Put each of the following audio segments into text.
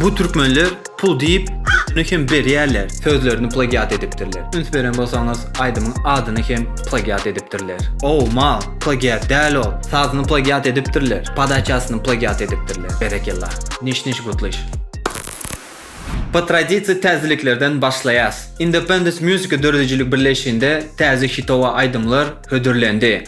Bu türkmenler pul diýip götüni hem berýärler sözlerini plagiat edipdirler. Üns beren bolsaňyz aýdymyň adyny hem plagiat edipdirler. Ow mal, plagiat däl ol. Sazyny plagiat edipdirler, podaçasyny plagiat edipdirler. Berekella. Niş niş gutlyş. Po tradisiýa täzeliklerden başlaýas. Independence Music döredijilik birleşiginde täze hitowa aýdymlar hödürlendi.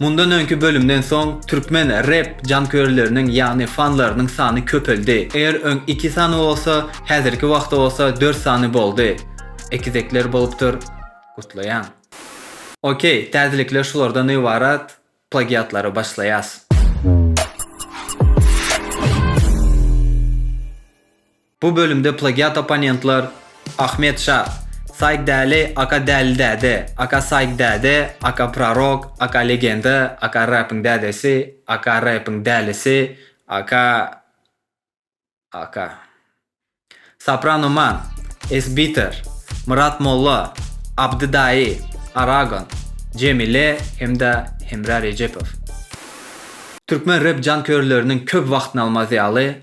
Mundan öňki bölümden soň türkmen rep janköýerleriniň ýagny fanlarynyň sany köpeldi. Eger öň iki sany bolsa, häzirki wagtda bolsa dört sany boldy. Ekizekler bolupdyr. Gutlaýan. Ok, täzelikler şulardan ybarat, plagiatlara başlaýas. Bu bölümde plagiat opponentler, Ahmet şa, Saig Däli, aka Däli däde, aka Saig däde, aka Prorok, aka Legenda, aka Räpiň dädesi, aka Räpiň dälisi, aka, aka. Soprano Man, Esbiter, Myrat Molla, Abdy Daýy, Aragon, Jemile hem-de Hemra Rejepow. Türkmen rep jankörleriniň köp wagtyny almaz ýaly,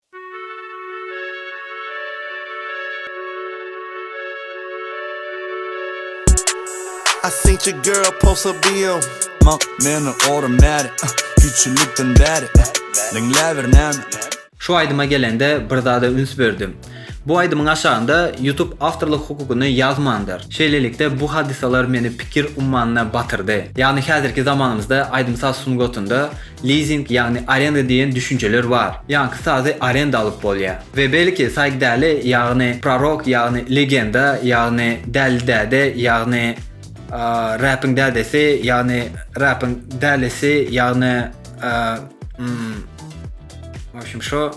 I seen your girl post her BM. Mak meni orum bäri, kiçilikden bäri, diňläbir näme. Şu aýdyma gelende bir zada üns berdim. Bu aýdymyň aşagynda YouTube awtorlyk hukugyny ýazmandyr. Şeýlelikde bu hadysalar meni pikir ummanyna batyrdy. Ýagny häzirki zamanymyzda aýdym-saz sungatynda Lizing ýagny arenda diýen düşünjeler bar. Ýaňky sazy arenda alyp bolýa. We belki saýk däli ýagny prorok ýagny legenda ýagny däli däde ýagny räpiň dädesi ýagny räpiň dälisi ýagny mm w obşem şo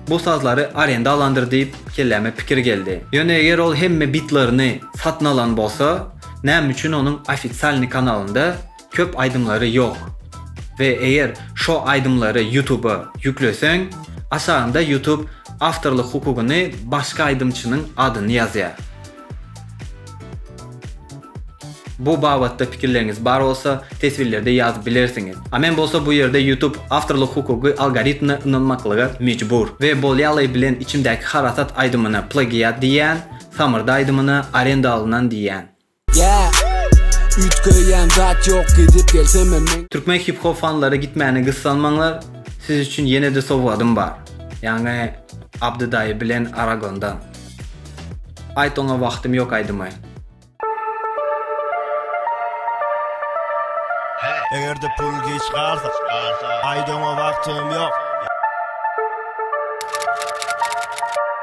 bu sazlary arenda alandyr diýip kelläme pikir geldi. Ýöne eger ol hemme bitlerini satyn alan bolsa näme üçin onuň ofitsialny kanalynda köp aýdymlary ýok we eger şo aýdymlary ýutuba ýükleseň aşagynda ýutub awtorlyk hukugyny başga aýdymçynyň adyny ýazýar. Bu babatda pikirleriňiz bar bolsa teswirlerde ýazyp bilersiňiz. A men bolsa bu ýerde ýutub awtorlyk hukugy algoritmine ynanmaklyga mejbur we bolýaly bilen içimdäki harasat aýdymyna plagiat diýýän, samyrdy aýdymyna arenda alynan diýýän. Yeah Üýtgeýän zat ýok gidip gelsem hem men. Türkmen hip hop fanlary gitmäne gyssanmaňlar siz üçin ýenede sowgadym bar ýagny Abdy daýy bilen Aragondan Aýt oňa wagtym ýok aýdymy. Egerde pul giç galsa Aýt oňa wagtym ýok.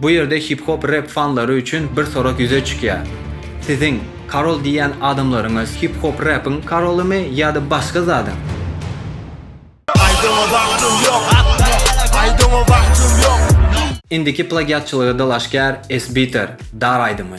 Bu ýerde hip-hop rep fanlary üçin bir sorag ýüze çykýar. Siziň Karol diýýän adamlaryňyz hip-hop repiň karolymy ýa-da başga zadyň? Indiki plagiatçylyga dalaşgär S-Beater, Dar aýdymy.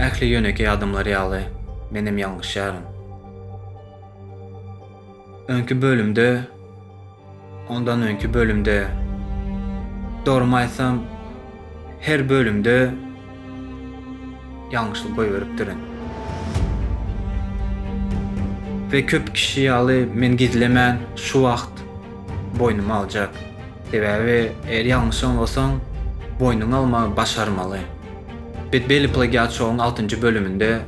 Ähli ýönekeý adamlar ýaly menem ýalňyşýaryn. Öňki bölümde, ondan öňki bölümde, dogrymy aýtsam, her bölümde ýalňyşlyk goýberipdirin. We köp kişi ýaly men gizlemän şu wagt boýnuma aljak. Sebäbi eger ýalňyş aňlasaň, boýnuňa almagy başarmaly. Bet belli plagiat şouň altynjy bölüminde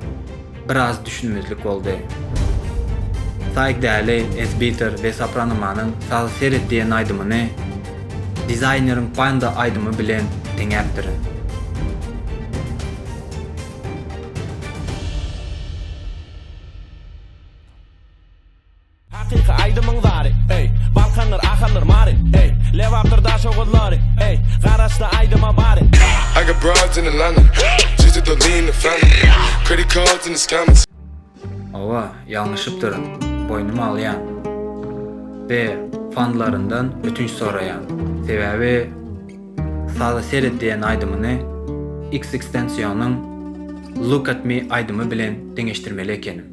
biraz düşünmezlik boldy. Saig Däli, Esbiter we Sopranomanyň Sazy seret diýen aýdymyny Dizaýneriň Panda aýdymy bilen deňäpdirin. Hakyky aýdymyň zary, eý, Balkandyr, Ahaldyr, Mary, eý, Lebapdyr, Daşoguzlary, eý, Garaşdy aýdyma bary. I got broads in Atlanta, just at the lean the family, credit cards in the scammers. Owa, ýalňyşypdyryn, boýnuma alýan. Be, fanlaryndan ötünç soraýan. Sebäbi Saza seret diýen aýdymyny XXXTENTIONyň Look at me aýdymy bilen deňeşdirmeli ekenim.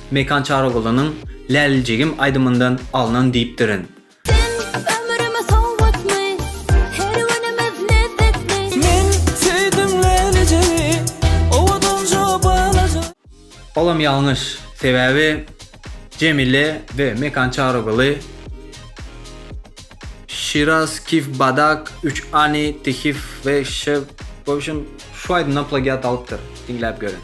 Mekan Çarygulynyň Läliljigim aýdymyndan alnan diýipdirin. Olam ýalňyş, sebäbi Jemile we Mekan Çaryguly Şiraz Kif Badak Üç Ani Tihif we Ş. W obşem şu aýdymdan plagiat alypdyr, diňläp görüň.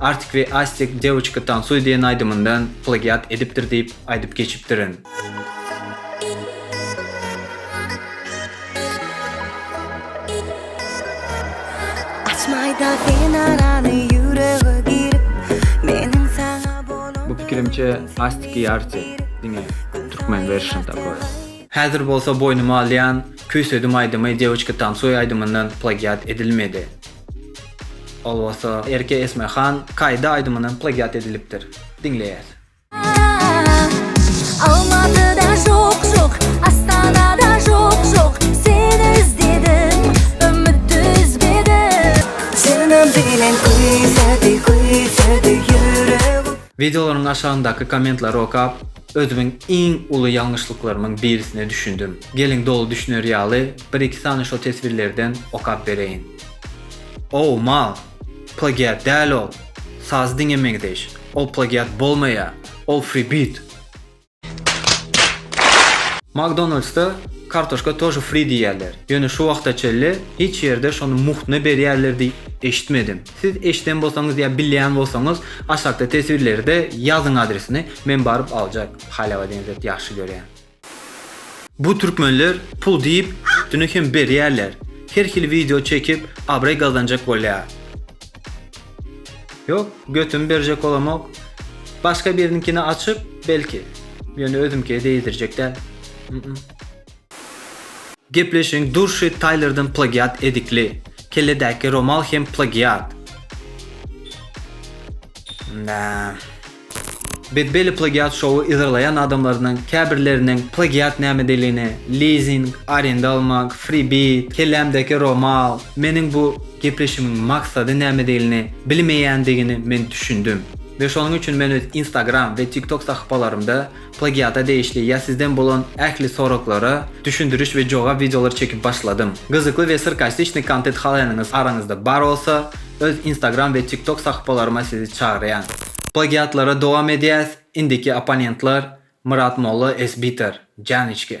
Artik we Astik Devçka tansuy diýen aýdymyndan plagiat edipdir diýip aýdyp geçipdirin. Açmaýda sen arany ýürege girip Meniň saňa bolan Bu pikirimçe Astik i Arti diňe türkmen version takoý. Häzir bolsa boýnuma alýan Küýsedim aýdymy Devçka tansuy aýdymyndan plagiat edilmedi. Ol bolsa Erke Esme Han Kaýda aýdymyndan plagiat edilipdir. Diňleýäs. Almatyda jok jok Astanada jok jok Seni izledim Ümit üzmedim Jynam bilen küýsedi küýsedi ýüregim Videolaryň aşagyndaky kommentlary okap özümiň iň uly ýalňyşlyklarymyň birisine düşündim. Geliň doly düşüner ýaly bir-iki sany şo teswirlerden okap bereýin. Ow, mal! Plagiat däl ol! Sazy diňe meňzeýiş. Ol plagiat bolmaýar! Ol fribit! Makdonaldsda kartoşka tože fri diýýärler. Ýöne şu wagta çenli hiç ýerde şony muhtuna berýärler diýip eşitmedim. Siz eşiden bolsaňyz ýa bilýän bolsaňyz aşakda teswirlerde ýazyň adresini men baryp aljak. Halywa deňzet ýagşy görýän. Bu türkmenler pul diýip üstüne hem berýärler her hili wideo çekip abraý gazanjak bolýar. Ýok götümi berjek bolamok başga biriniňkini açyp belki ýöne özümkiye degizdirjek däl mm. Gepleşiň durşy Taýlerden plagiat edikli. Kelledäki romal hem plagiat. Nää. Betbelli Plagiat Show-y yzarlaýan adamlardan käbirleriniň plagiat nämedigini, lizing, arenda almak, freebie, kellämdäki romal, meniň bu gepleşigiň maksady nämedigini bilmeýändigini men düşündim we şonuň üçin men öz Instagram we TikTok sahypalarymda Plagiata degişli ýa sizden bolan ähli soraglara düşündiriş we jogap wideolary çekip başladym. Gyzykly we srkastiçny kontet halaýanyňyz araňyzda bar bolsa, öz instagram we tiktok sahypalaryma sizi çagyrýan. Plagiatlara dowam edýäs, indiki opponentlar Myrat Molla SBiter. Janyçki.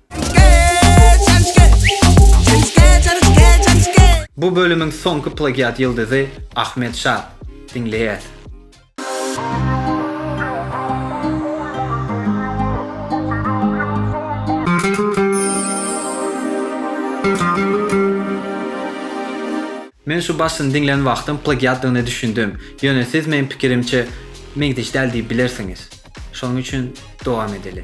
Bu bölümiň soňky plagiat ýyldyzy Ahmet Şa. Diňleýäs. Men şu başyny diňlän wagtym plagiatdygyna düşündim. Ýöne siz meň pikirimçe meňzeş däl diýip bilersiňiz. Şonuň üçin dowam edeli.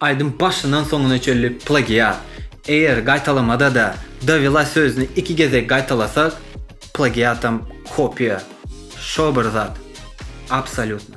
Aýdym başyndan soňuna çenli plagiat. Eger gaýtalamada-da dowela sözüni iki gezek gaýtalasak, plagiatam kopiýa. Şo bir zat. Absolýutno.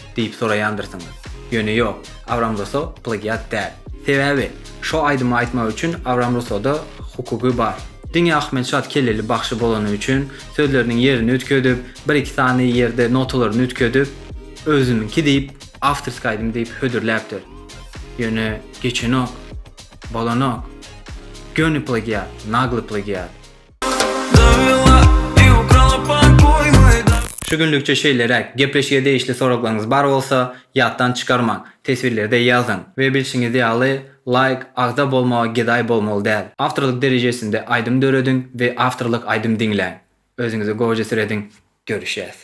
diýip soraýandyrsyňyz. Ýöne ýok, Abram Russo plagiat däl. Sebäbi, şo aýdymy aýtmak üçin Abram Russoda hukugy bar. Diňe Ahmetşat kelleli bagşy bolany üçin sözleriniň ýerini üýtgedip, bir-iki sany ýerde notalaryny üýtgedip, özümiňki diýip, awtorskiý aýdym diýip hödürläpdir. Ýöne geçenok. Bolanok. Göni plagiat, nagly plagiat. Şu günlükçe şeýleräk, gepleşige degişli soraglaryňyz bar bolsa, ýatdan çykarmaň, teswirlerde ýazyň we bilşiňiz ýaly, laýk, agza bolmaga gedaý bolmaly däl. Awtorlyk derejesinde aýdym dörediň we awtorlyk aýdym diňläň. Özüňizi goja sürediň. Görüşýäs.